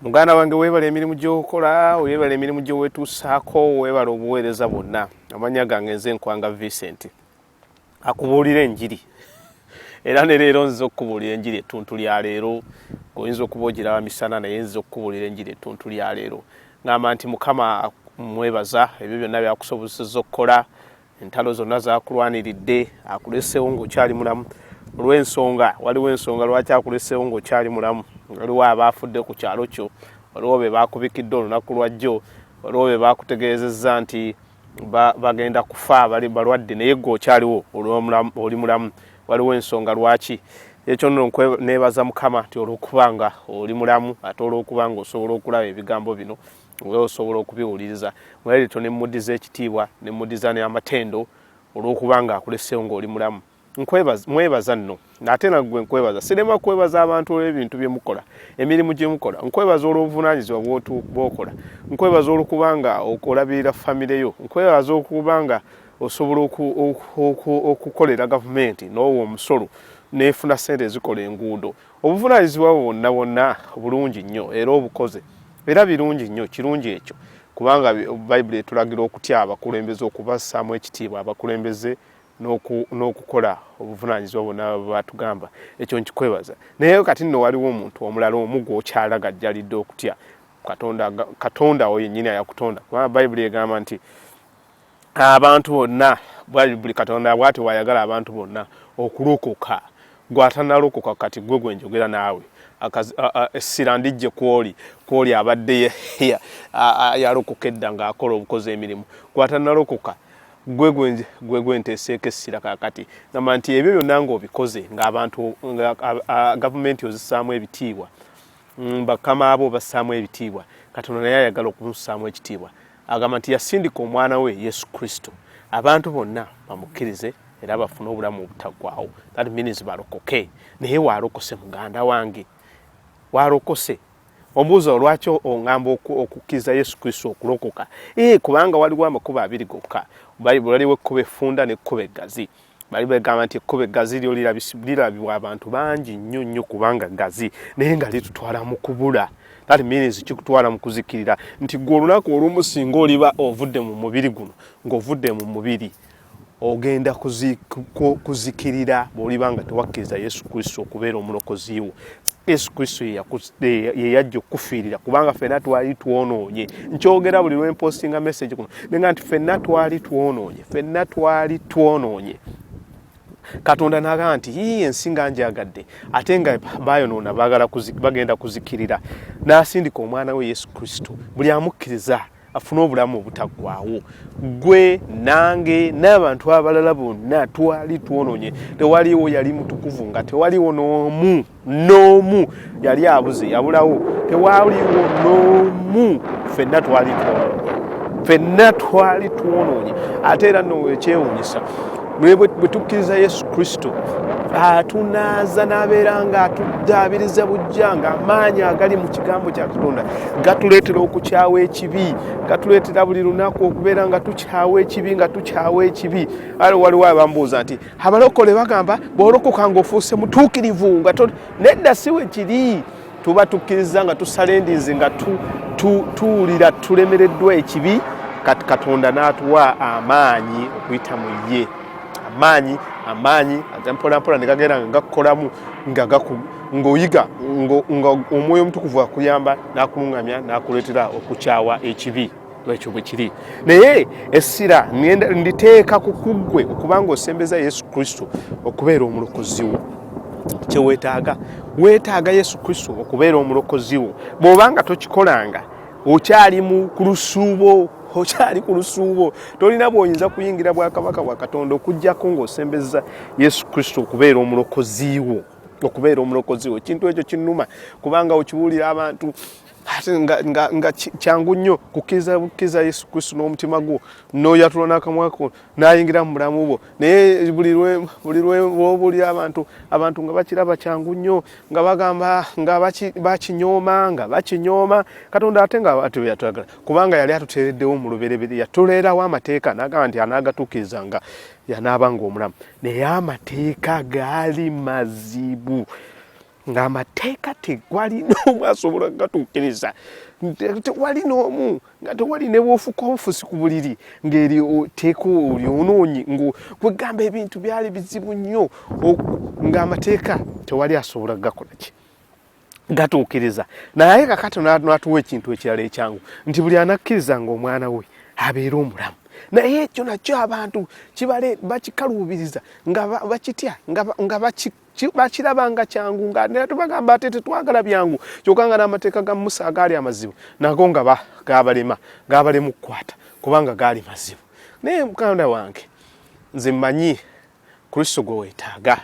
muganda wange webala emirimu gyokola webala emirimu gyowetuusaako webala obuweereza bwonna amanya gange nze nkwanga vincent akubuulira enjiri era ne leero nziza okukubuulira enjiri ettuntu lya leero oyinza okuba ogiraba misana naye nziza okukubuulira enjiri ettuntu lya leero ngamba nti mukama mwebaza ebyo byonna byakusobozeseza okukola entalo zonna zakulwaniridde akulesewo ngaokyali mulamu olwensonga waliwo ensonga lwaki akulesewo ngaokyali mulamu waliwo abaafudde ku kyalo kyo waliwo be bakubikidde olunaku lwajjo waliwo be bakutegeezezza nti bagenda kufa bali balwadde naye gwe okyaliwo oli mulamu waliwo ensonga lwaki ekyo nno neebaza mukama nti olwokubanga oli mulamu ate olwokubanga osobola okulaba ebigambo bino nga osobola okubiwuliriza mwalirito ne mudi z'ekitiibwa ne mudi za n'amatendo olw'okuba nga akuleseewo ng'oli mulamu mwebaza nno ate nagwe nkwebaza sirema kwebaza abantu olw'ebintu bye mukola emirimu gye mukola nkwebaza olw'obuvunaanyizibwa bwokola nkwebaza olwokuba nga olabirira famire yo nkwebaza okuba nga osobola okukolera gavumenti n'owa omusolo nefuna sente ezikola enguudo obuvunaanyizibwa bwo bwonna bwonna bulungi nnyo era obukoze era birungi nnyo kirungi ekyo kubanga bayibuli etulagira okutya abakulembeze okubassaamu ekitiibwa abakulembeze n'okukola obuvunaanyizibwa bwonna batugamba ekyo nkikwebaza naye kati nno waliwo omuntu omulala omu gwokyalagajjalidde okutya katonda oyo nyini ayakutonda kubanga bayibuli egamba nti abantu bonna buli katonda bwati wayagala abantu bonna okulokoka gwatanalokoka kati gwe gwenjogera naawe essira ndijje kwoli kwoli abadde yalokoka edda ngaakola obukozi emirimu gwatanalokoka gwe gwenteeseeko essira kakati gamba nti ebyo byonna ngaobikoze ngaabantu gavumenti ozisaamu ebitiibwa mm, bakama abo obassaamu ebitiibwa katonda naye ayagala okumusaamu ekitiibwa agamba nti yasindika omwana we yesu kristo abantu bonna bamukkirize era bafune obulamu obutaggwawo that means balokoke naye walokose muganda wange walokose ombuuza olwaki ongamba okukkiriza yesu kristo okulokoka ee eh, kubanga waliwo amakubo abiri gokka waliwo ekkuba effunda nekkuba eggazi bali bagamba nti ekkubo eggazi lyo lirabibwa abantu bangi nnyo nnyo kubanga ggazi naye nga litutwala mu kubula that means kikutwala mu kuzikirira nti gwe olunaku olumu singa oliba ovudde mu mubiri guno ng'ovudde mu mubiri ogenda kuzikirira bwoliba nga tewakkiriza yesu kristo okubeera omulokozi wo yesu kristo yeyajja okukufiirira kubanga fenna twali twonoonye nkyogera buli lwempostinga message kuno nenga nti fenna twali twonoonye fenna twali twonoonye katonda naga nti yiyi ensi nga njagadde ate nga bayonoona bagenda kuzikirira nasindika omwana we yesu kristo buli amukkiriza afune obulamu obutaggwawo gwe nange n'abantu abalala bonna twali twononye tewaliwo yali mutukuvu nga tewaliwo n'omu n'omu yali abuze yabulawo tewaliwo n'omu fenna twali twononye fenna twali twononye ate era nowekyewunyisa naye bwe tukkiriza yesu kristo atunaaza n'abeera nga atuddaabiriza bujja nga amaanyi agali mu kigambo kya katonda gatuleetera okukyawa ekibi gatuleetera buli lunaku okubeera nga tukyawa ekibi nga tukyawa ekibi ale waliwo abambuuza nti abalokole bagamba bwolokoka ngaofuuse mutuukirivu nga nedda siwe kiri tuba tukkiriza nga tusala endinzi nga tuwulira tu, tu, tulemereddwa ekibi kati katonda n'atuwa amaanyi okuyita mu ye amaanyi amaanyi aza mpolampola ne gagenda nga gakukolamu nga ng'oyiga nga omwoyo omutukuvu akuyamba n'akulungamya n'akuleetera okukyawa ekibi ekyo bwe kiri naye essira nditeeka ku kuggwe okubanga osembeza yesu kristo okubeera omulokozi wo kyewetaaga wetaaga yesu kristo okubeera omulokozi wo bw'oba nga tokikolanga okyali mu ku lusuubo okyali ku lusuubo tolina bwoyinza kuyingira bwakabaka bwa katonda okujjako ng'osembeza yesu kristo okubeera omulokozi wo okubeera omulokozi wo ekintu ekyo kinuma kubanga okibuulira abantu ate nga, nga, nga kyangu nnyo kukkiriza bukkiriza yesu kristu n'omutima gwo n'oyatula n'akamwa ko n'ayingira mu bulamu bwo naye buli lwobuli abantu abantu nga bakiraba kyangu nnyo nga bagamba nga bakinyooma nga bakinyooma katonda ate nga ati yatwagala kubanga yali atuteereddewo mu luberebere yatuleerawo amateeka n'agamba nti anaagatuukiriza nga yanaaba nga omulamu naye amateeka gaali mazibu ng'amateeka tegwali n'omu asobola gatuukiriza tewali n'omu nga tewali ne bwofuka omufusi ku buliri ng'eri teeka olyonoonyi ng'okwegamba ebintu byali bizibu nnyo ng'amateeka tewali asobola gakola ki gatuukiriza naye kakati natuwa ekintu ekirala ekyangu nti buli anakkiriza ng'omwana we abeere omulamu naye ekyo nakyo abantu kibale bakikaluubiriza nga bakitya nga bakiraba nga kyangu nga naye tubagamba ate tetwagala byangu kyoka nga n'amateeka ga musa agaali amazibu nago nga gabalema gabalemu kukwata kubanga gaali mazibu naye mukanda wange nze mmanyi kristo gwe weetaaga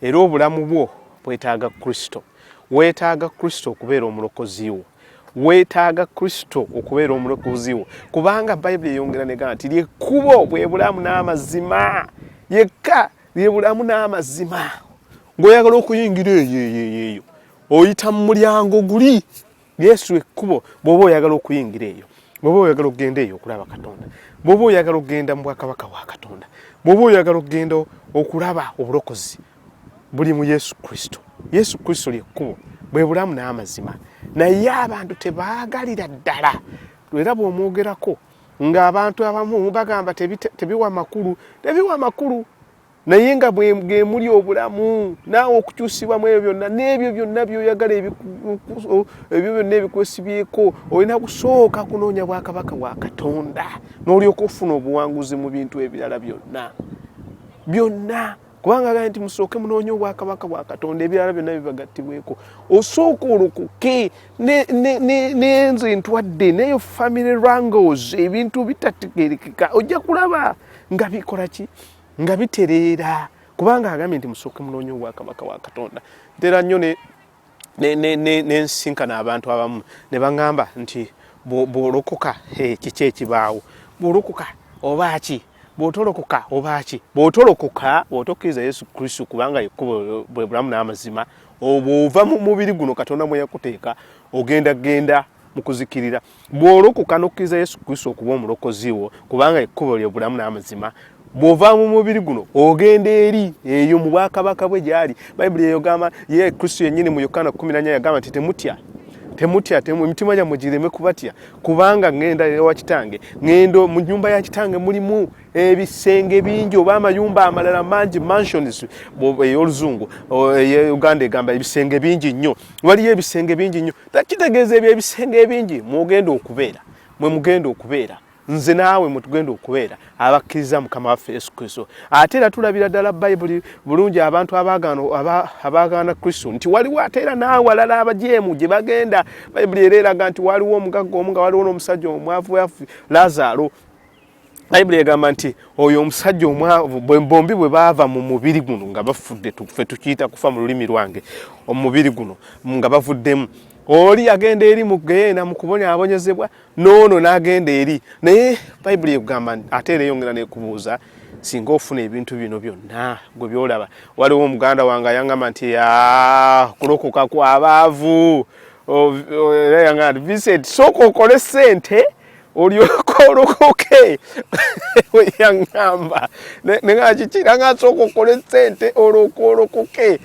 era obulamu bwo bwetaaga kristo weetaaga kristo okubeera omulokozi wo weetaaga kristo okubeera omulokozi wo kubanga bayibuli eyongera nega nti lyekkubo bwe bulamu n'amazima yekka ye bulamu n'amazima ng'oyagala okuyingira eyo eyo eyo oyita mu mulyango guli yesu ekkubo bw'oba oyagala okuyingira eyo bw'oba oyagala okugenda eyo okulaba katonda bw'oba oyagala okugenda mu bwakabaka bwa katonda bw'oba oyagala okugenda okulaba obulokozi buli mu yesu kristo yesu kristo lyekkubo bwe bulamu n'amazima naye abantu tebaagalira ddala era bw'omwogerako nga abantu abamu bagamba tebiwa makulu tebiwa makulu naye nga bwemuli obulamu naawe okukyusibwa mu ebyo byonna n'ebyo byonna byoyagala ebyo byonna ebikwesibyeko olina kusooka kunoonya bwakabaka wa katonda n'olyoka ofuna obuwanguzi mu bintu ebirala byonna byonna kubanga agambye nti musooke munoonye obwakabaka bwa katonda ebirala byonna bibagattibweko osooka olokoke nenze ntwadde neyo family rangles ebintu bitategerekeka ojja kulaba nga bikola ki nga bitereera kubanga agambye nti musooke munoonye obwakabaka bwa katonda ntera nnyo nensinkana abantu abamu ne baŋŋamba nti bw'olokoka kiki ekibaawo bw'olokoka oba ki bw'otolokoka oba ki bw'otolokoka bw'otokkiriza yesu kristo kubanga yekkubo bwe bulamu n'amazima obw'ova mu mubiri guno katonda mwe yakuteeka ogenda genda mu kuzikirira bw'olokoka n'okkiriza yesu kristo okuba omulokozi wo kubanga ekkubo lye bulamu n'amazima bw'ova mu mubiri guno ogenda eri eyo mu bwakabaka bwe gyali bayibuli eyogamba ye kristo yennyini mu yokaana 14 yagamba nti temutya temutya emitima gyammwe gireme kubatya kubanga ŋenda ewa kitange ŋendo mu nyumba ya kitange mulimu ebisenge bingi oba amayumba amalala mangi mansions ey'oluzungu uganda egamba ebisenge bingi nnyo waliyo ebisenge bingi nnyo kitegeeza ebyo ebisenge ebingi mwogenda okubeera mwe mugenda okubeera nze naawe mwetugenda okubeera abakkiriza mukama waffe yesu kristo ate era tulabira ddala bayibuli bulungi abantu abaagaana kristo nti waliwo ate era naawalala abajeemu gye bagenda bayibuli era eraga nti waliwo omugagga omu nga waliwo n'omusajja omwavu wafu lazaalo bayibuli egamba nti oyo omusajja omwavu bombi bwe baava mu mubiri guno nga bafudde fe tukiyita kufa mu lulimi lwange omubiri guno nga bavuddemu oli agenda eri mu geyeena mu kubonyaabonyezebwa noono n'agenda eri naye bayibuli ekugamba ate era eyongera nekubuuza singa ofuna ebintu bino byonna gwe byolaba waliwo omuganda wange ayangamba nti kulokoka kwabaavu era yangamba nti vincent sooka okole sente olyoka olokoke yaŋŋamba ne nga kikira nga asooka okola esente olwoka olokoke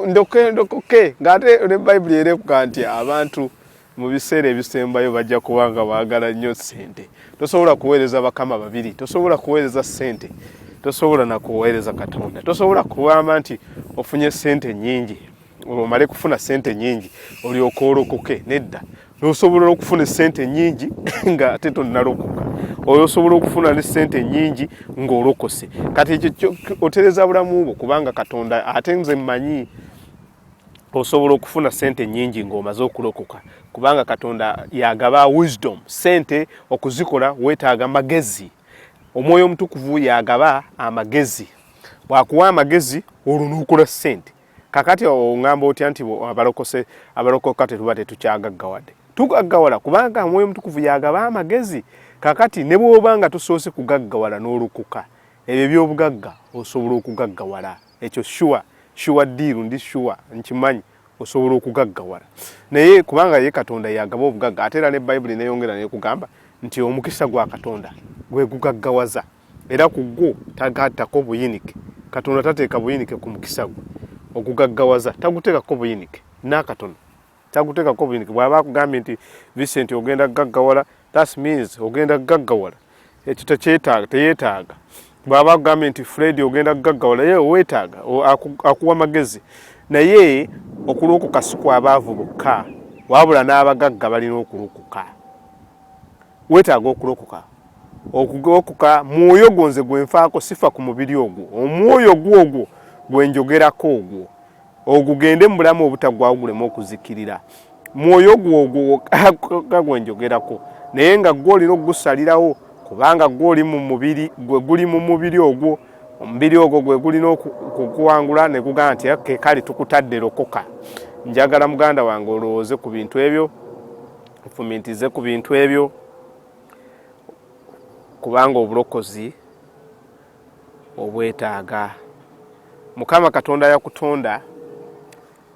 ndoke ndokoke ng'ate ne bayibuli era ekuga nti abantu mu biseera ebisembayo bajja kuba nga baagala nnyo sente tosobola kuweereza bakama babiri tosobola kuweereza sente tosobola na kuweereza katonda tosobola kugamba nti ofunye sente nnyingi omale kufuna sente nyingi olyoka olokoke nedda nosobola okufuna esente nyingi nga ate tonalokoka oyo osobola okufuna ne sente nyingi ngaolokose kati ekyo otereza bulamu bwo kubanga katonda ate nze mmanyi osobola okufuna sente nyingi ngaomaze okulokoka kubanga katonda yagaba wisdom sente okuzikola wetaaga magezi omwoyo omutukuvu yagaba amagezi bwakuwa amagezi olwo nokola sente kakati ongamba otya nti abalokose abalokoka tetuba tetukyagaggawade tugaggawala kubanga omwoyo omutukuvu yagaba amagezi kakati ne bwoba nga tusoose kugaggawala n'olukuka ebyo ebyobugagga osobola okugaggawala ekyo shuwa shuwa diiru ndi shuwa nkimanyi osobola okugaggawala naye kubanga ye katonda yagaba obugagga ate era ne bayibuli neyongera nekugamba nti omukisa gwa katonda gwegugaggawaza era ku gwo tagattako buyinike katonda tateeka buyinike ku mukisa gwe ogugaggawaza taguteekako buyinike n'akatono taguteekako buyinike bw'aba akugambye nti vicenti ogenda kugaggawala that means ogenda kugaggawala ekyo tekyetaaga teyeetaaga bw'aba akugambye nti fredi ogenda kugaggawala ye weetaaga akuwa magezi naye okulokoka si kwabaavu bokka wabula n'abagagga balina okulokoka weetaaga okulokoka okugolokoka mwoyo gwo nze gwenfaako sifa ku mubiri ogwo omwoyo gwo ogwo gwenjogerako ogwo ogugende mu bulamu obutagwawo guleme okuzikirira mwoyo gwo ogwo ga gwenjogerako naye nga gwe olina okugusalirawo kubanga gwe oli mu mubiri gwe guli mu mubiri ogwo omubiri ogwo gwe gulina okukuwangula ne gugamba nti ke kale tukutadde lokoka njagala muganda wange olowooze ku bintu ebyo ofumintize ku bintu ebyo kubanga obulokozi obwetaaga mukama katonda yakutonda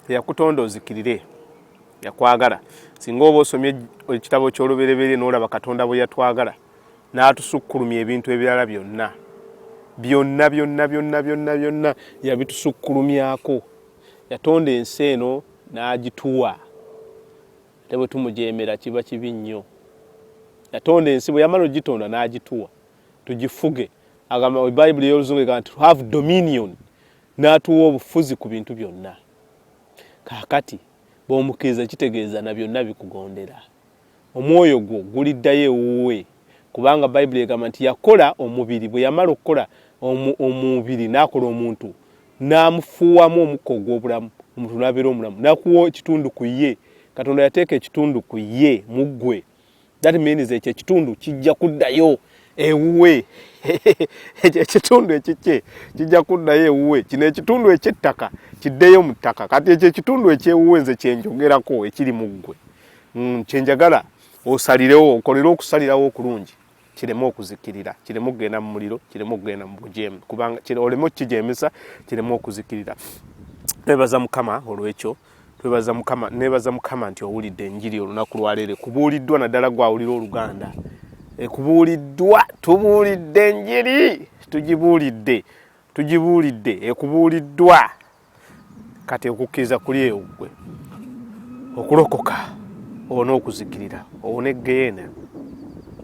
teyakutonda ozikirire yakwagala singa oba osomye ekitabo ky'olubereberye n'olaba katonda bwe yatwagala n'atusukkulumya ebintu ebirala byonna byonna byonna byonna byonna byonna yabitusukkulumyako yatonda ensi eno n'agituwa ate bwe tumujeemera kiba kibi nnyo yatonda ensi bwe yamala ogitonda n'agituwa tugifuge agamba bayibuli ey'oluzungu egamba nti have dominion n'atuwa obufuzi ku bintu byonna kaakati bw'omukkiriza kitegeeza na byonna bikugondera omwoyo gwo guliddayo ewuwe kubanga bayibuli egamba nti yakola omubiri bwe yamala okukola omubiri n'akola omuntu n'amufuuwamu omukka ogw'obulamu omuntu n'abeera omulamu nakuwa ekitundu ku ye katonda yateeka ekitundu ku ye mu ggwe that means ekyo ekitundu kijja kuddayo ewuwe ekyo ekitundu ekikye kijja kuddayo ewuwe kino ekitundu ekyettaka kiddeyo mu ttaka kati ekyo ekitundu ekyewuwe nze kyenjogerako ekiri mu ggwe mm, kyenjagala osalirewo okolere okusalirawo okulungi kireme okuzikirira kireme okugenda mu muliro kireme okugenda mu bujeemu kubanga oleme okukijemesa kireme okuzikirira twebaza mukama olwekyo twebaza mukama nebaza mukama nti owulidde enjiri olunaku lwaleero kubuuliddwa naddala gwawulira oluganda ekubuuliddwa tubuulidde enjiri tugibuulidde tugibuulidde ekubuuliddwa kati okukkiriza kuli eyo gwe okulokoka owone okuzikirira owone egeyeena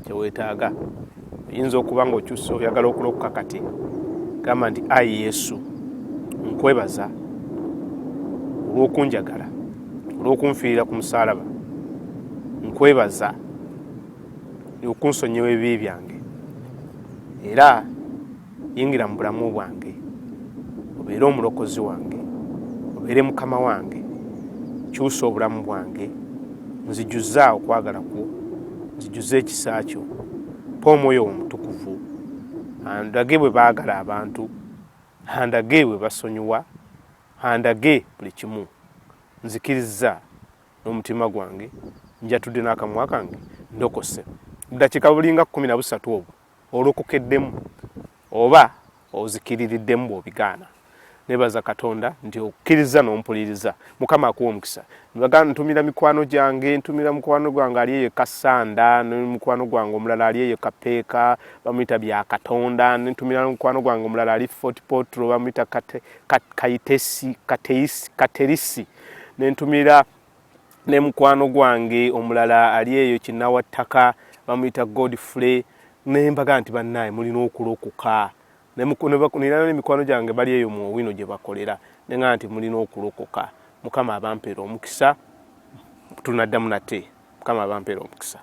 kyewetaaga oyinza okuba nga okyusa oyagala okulokoka kati gamba nti ayi yesu nkwebaza olwokunjagala olwokunfiirira ku musalaba nkwebaza okunsonyiwa ebibi byange era yingira mu bulamu bwange obeere omulokozi wange obeere mukama wange kyusa obulamu bwange nzijuza okwagala kwo nzijuza ekisa kyo pa omwoyo wo mutukuvu andage bwe baagala abantu andage bwe basonyiwa andage buli kimu nzikiriza n'omutima gwange njatudde n'akamwa kange ndokose budakiika bulinga kumi na busatu obwo olokokeddemu oba ozikiririddemu bw'obigaana nebaza katonda nti okkiriza n'ompuliriza mukama akuwa omukisa bagana ntumira mikwano gyange ntumira mukwano gwange ali eyo kasanda nemukwano gwange omulala ali eyo kapeeka bamuyita bya katonda ntumira mukwano gwange omulala ali fort potro bamuyita kaitesi katerisi nentumira ne mukwano gwange omulala ali eyo kinawa ttaka bamuyita godfrey nembaga nti bannaye mulina okulokoka nera nemikwano gyange bali eyo mu owino gye bakolera nenga nti mulina okulokoka mukama abampera omukisa tunaddamu nate mukama abampera omukisa